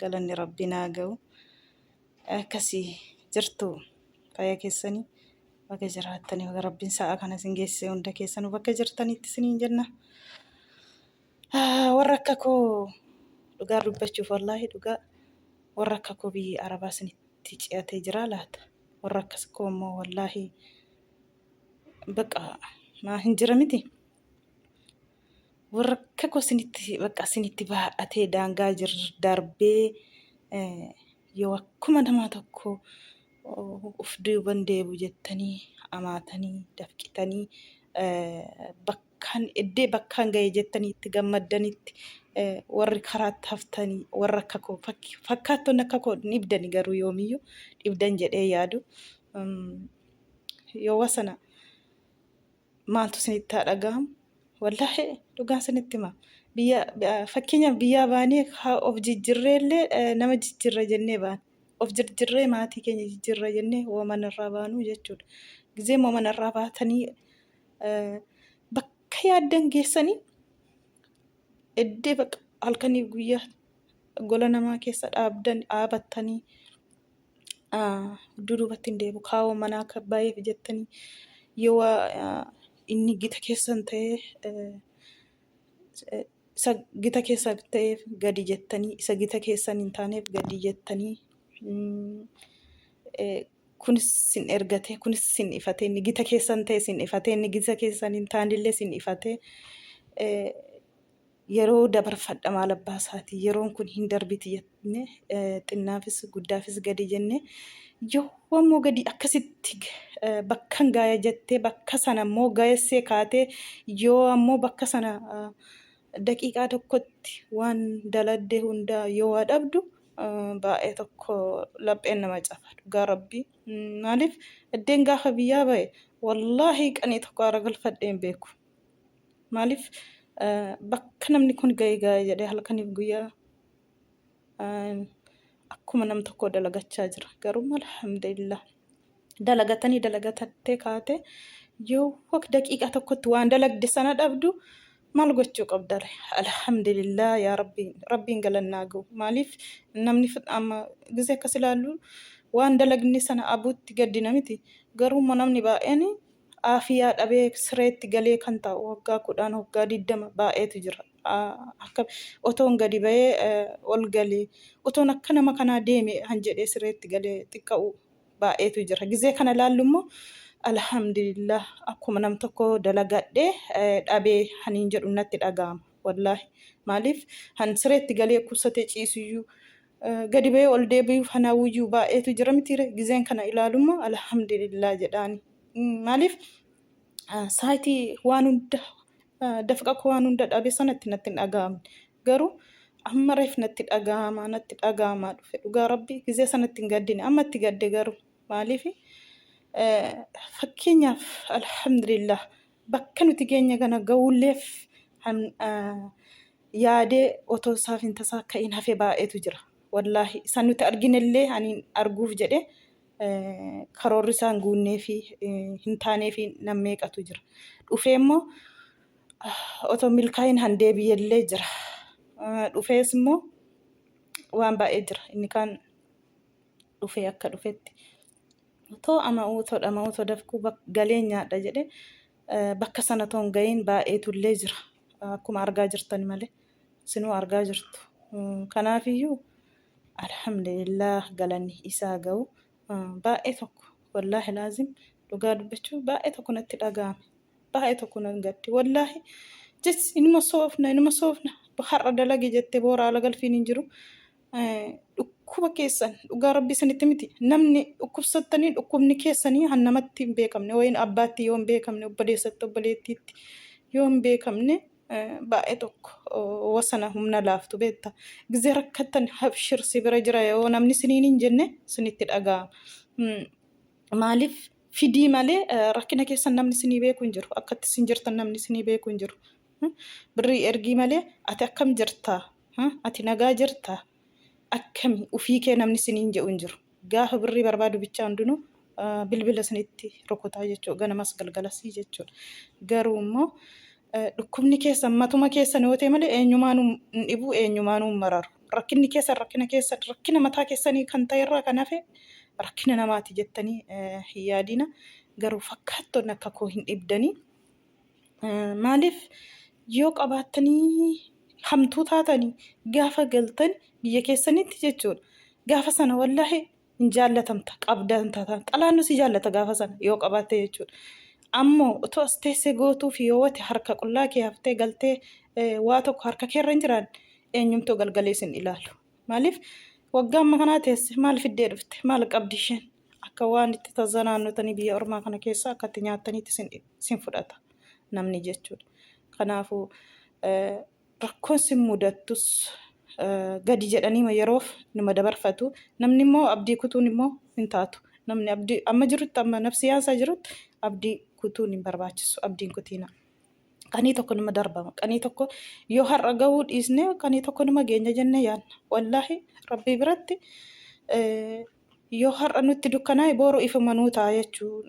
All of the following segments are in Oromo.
galanni rabbi naa ga'u akkasi jirtu fayya keessani baga jiraattani baga rabbiin sa'a kana isin geessise hunda keessanu bakka jirtanitti isiniin jenna warra akka koo dhugaa dubbachuuf wallaahi dhugaa warra akka koo biyyi arabaa isinitti ci'atee jiraa laata warra akkas koo immoo wallaahi baqa maa hin jira miti warrakka koo sinitti bakka sinitti baadhatee daangaa jir darbee eh, yoo akkuma namaa tokko oh, uf duuban deebu jettanii amaatanii dafqitanii eh, bakkaan eddee bakkaan ga'e jettanii itti gammaddanitti eh, warri karaatti haftanii warra akka koo fakki- fakkaattonni akka koo dhibdani garuu yoomiyyuu dhibdan jedhee yaadu. Um, yoo wasana maaltu isinitti haa dhaga'amu wallaahi dhugaan isinitti hima biyya fakkeenyaaf biyyaa baanee haa of jijjirree illee eh, nama jijjirra jennee baana of jijjirree maatii keenya jijjirra jennee waman irraa baanuu jechuudha gizee waman irraa baatanii eh, bakka yaaddan geessanii eddee bakka halkanii guyyaa gola namaa keessa dhaabdan dhaabattanii gidduu duubatti hin deebi'u. Kaawoo manaa akka baay'eef jettanii yoo waa inni gita keessan ta'ee isa gita keessan ta'eef gadi jettanii isa gita keessan hin taaneef gadi jettanii kunis sin ergatee kunis sin ifatee inni gita keessan ta'e sin ifatee inni gita keessan hin taanillee sin ifatee. Yeroo dabarfadha maal abbaa isaati yeroon kun hin darbiti jenne xinnaafis guddaafis gadi jenne yoo ammoo gadi akkasitti bakkan gaaya jettee bakka sana ammoo gayessee kaatee yoo ammoo bakka sana daqiiqaa tokkotti waan daladde hundaa yoo waa dhabdu baay'ee tokko lapheen nama caba dhugaa rabbii maaliif eddeen gaafa biyyaa ba'e wallaahi qanii tokko aara galfadheen beeku. Maaliif bakka namni kun ga'e ga'e jedhee halkaniif guyyaa akkuma nam tokkoo dalagachaa jira. Garuu alhamdulillah dalagatanii dalagatattee kaate yoo waq daqiiqaa tokkotti waan dalagde sana dhabdu maal gochuu qabdare? Alhamdulillah yaa rabbii rabbiin galannaa ga'u. Maaliif namni amma gisee akkas ilaallu waan dalagne sana abuutti gaddina miti. Garuu immoo namni baay'een aafiyaa dhabee sireetti galee kan taa'u waggaa kudhaan waggaa digdama baay'eetu jira. Akka otoon gadi ba'ee ol galee otoon akka nama kanaa deeme han jedhee sireetti galee xiqqa'u baay'eetu jira. Gizee kana laallu immoo alhamdulillah akkuma nam tokko dalagadhee dhabee haniin jedhu natti dhaga'ama. Wallaahi maaliif han sireetti galee kuusatee ciisuyyuu gadi ba'ee ol deebi'uuf kan hawwiyyuu baay'eetu jira mitiire gizeen kana ilaalummoo alhamdulillah jedhaani. Maaliif saayitii waan hunda dafqa koo waan hunda dhabe sanatti natti hin dhaga'amne. Garuu amma reef natti dhaga'ama natti dhaga'ama dhufe dhugaa rabbi gizee sanatti hin gaddine amma itti gadde garuu maaliif fakkeenyaaf alhamdulillah bakka nuti geenye kana ga'uulleef han yaadee otoo isaaf hin tasaa ka'in hafe baay'eetu jira. Wallaahi isa nuti arginellee ani arguuf jedhe karoorri isaa hin guunnee fi hin taanee fi nan meeqatu jira. Dhufee immoo otoo milkaa'in han deebi'ellee jira. Dhufees immoo waan baay'ee jira. Inni kaan dhufee akka dhufetti Otoo ama uutoo dhama uutoo dafquu galeen nyaadha jedhe bakka sana toon ga'iin baay'eetu illee jira. Akkuma argaa jirtan malee sinuu argaa jirtu. Kanaafiyyuu alhamdulillah galanni isaa ga'u baay'ee tokko wallaahi laazim dhugaa dubbachuu baay'ee tokko natti dhaga'ame. Baay'ee tokko nan gadde wallaahi jechi inuma soofna inuma soofna har'a dalagi jette boora ala galfiin hin jiru. dhukkuba keessan dhugaa rabbi isinitti miti namni dhukkubsattanii dhukkubni keessanii han namatti hin beekamne wayin abbaatti yoo hin beekamne obboleessatti obboleettiitti yoo hin beekamne baay'ee tokko wasana humna laaftu beetta gizee rakkattan habshir si bira jira yoo namni siniin hin jenne sinitti dhaga'ama maaliif fidii malee rakkina keessan namni sinii beeku hin jiru akkatti sin jirtan namni sinii beeku hin jiru Birrii ergii malee ati akkam jirta? Ati nagaa jirta? Akkami ufii kee namni siniin jedhu hin jiru. Gaafa birrii barbaadu bichaa hundinuu bilbila sinitti rukutaa jechuudha. Ganamas galgalasii jechuudha. Garuu immoo dhukkubni keessan matuma keessan yoo ta'e malee eenyumaanuu hin dhibuu eenyumaanuu hin mararu. Rakkinni keessan rakkina keessan rakkina mataa keessanii kan ta'e irraa kan hafe rakkina namaati jettanii hin yaadina. Garuu fakkaattonni akka koo hin dhibdanii. Maaliif yoo qabaattanii hamtuu taatanii gaafa galtan biyya keessanitti jechuudha. Gaafa sana wallaahi hin jaallatamta qabdan taata. Xalaannu si jaallata gaafa sana yoo qabaatte jechuudha. Ammoo otoo as teessee gootuu fi yoo wati harka qullaa kee haftee galtee waa tokko harka keerra hin jiraan eenyumtuu galgalee sin ilaalu. Maaliif waggaa amma kanaa teesse maal fiddee dhufte maal qabdi isheen. Akka waan itti tazanaannotanii biyya ormaa kana keessa akka itti nyaattaniitti isin, isin fudhata namni jechuudha. Kanaafuu eh, rakkoon sin mudattus eh, gadi jedhaniima yeroof nima dabarfatu. Namni immoo abdii kutuun immoo hin taatu. Namni abdii amma jirutti amma nafsiyaan isaa jirutti abdii kutuun hin barbaachisu. Abdiin kutiina. Qanii tokko nima darbama. Qanii tokko yoo har'a gahuu dhiisne qanii tokko nima geenya jennee yaadna. Wallaahi rabbii biratti eh, Yoo har'a nutti dukkanaa'e booru ifuma nuu ta'a jechuu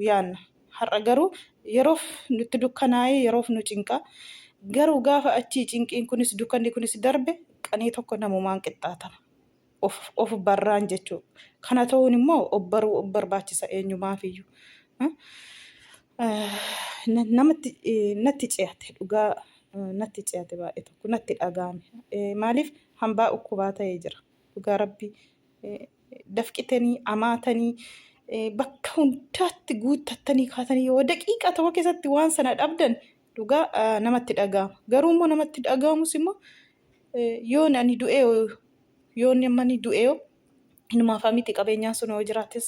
yaanna. Har'a garuu yeroof nutti dukkanaa'ee yeroof nu cinqa. Garuu gaafa achii cinqiin kunis dukkanni kunis darbe qanii tokko namumaan qixxaatama. Of, of barraan jechuu. Kana ta'uun immoo of baruu of barbaachisa eenyumaafiyyuu. Eh, eh, na- Namatti eh, natti ce'ate dhugaa eh, natti ce'ate baay'ee tokko natti dhaga'ame. Eh, Maaliif hambaa ukkubaa ta'ee jira. dhugaa rabbi dafqitanii amaatanii bakka hundaatti guuttattanii kaatanii yoo daqiiqaa tokko keessatti waan sana dhabdan dhugaa namatti dhaga'ama garuu immoo namatti dhaga'amus immoo yoon ani du'ee yoon amma ni du'ee inumaafaa miti qabeenyaan sun yoo jiraates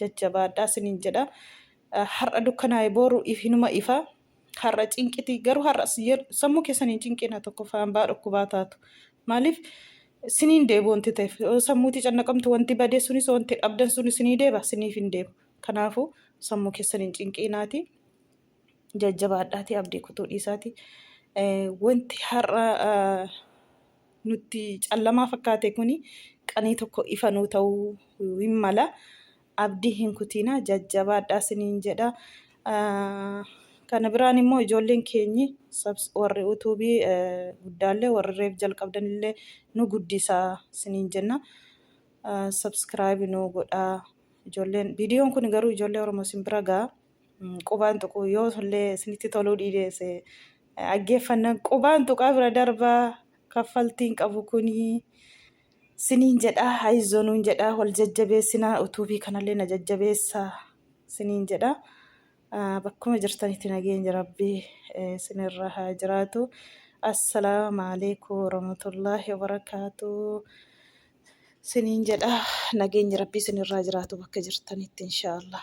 jajjabaadhaa sinin jedha har'a dukkanaa'e booru hinuma ifa har'a cinqiti garuu har'a sammuu keessan hin cinqina tokkoffaa hambaa dhukkubaa taatu maaliif siniin deebu wanti ta'eef sammuuti cannaqamtu wanti badee sunis wanti dhabdan sunis sinii deeba siniif hin deebu kanaafuu sammuu keessan hin cinqiinaati jajjabaadhaati abdii kutuu dhiisaati wanti har'a nutti callamaa fakkaate kuni qanii tokko ifa nuu ta'uu hin mala abdii hin kutiina jajjabaadhaa siniin jedha kana biraan immoo ijoolleen keenyi warri utuubii guddaallee warri reef jalqabdanillee nu guddisaa siniin jenna sabskraayibi nuu godhaa ijoolleen viidiyoon kun garuu ijoollee oromoo sin bira ga'a Qubaan tuquu yoo illee isinitti toluu dhiideesse dhaggeeffannan qubaan tuqaa bira darbaa kaffaltiin qabu kunii siniin jedhaa haizoo nuun jedhaa wal jajjabeessinaa utuubii kanallee na jajjabeessa siniin jedhaa bakkuma jirtanitti nageenyi rabbii sinirra haa jiraatu assalaamu alaikum warahmatullaahi wabarakaatuu siniin jedhaa nageenyi rabbii sinirraa jiraatu bakka jirtanitti inshaallah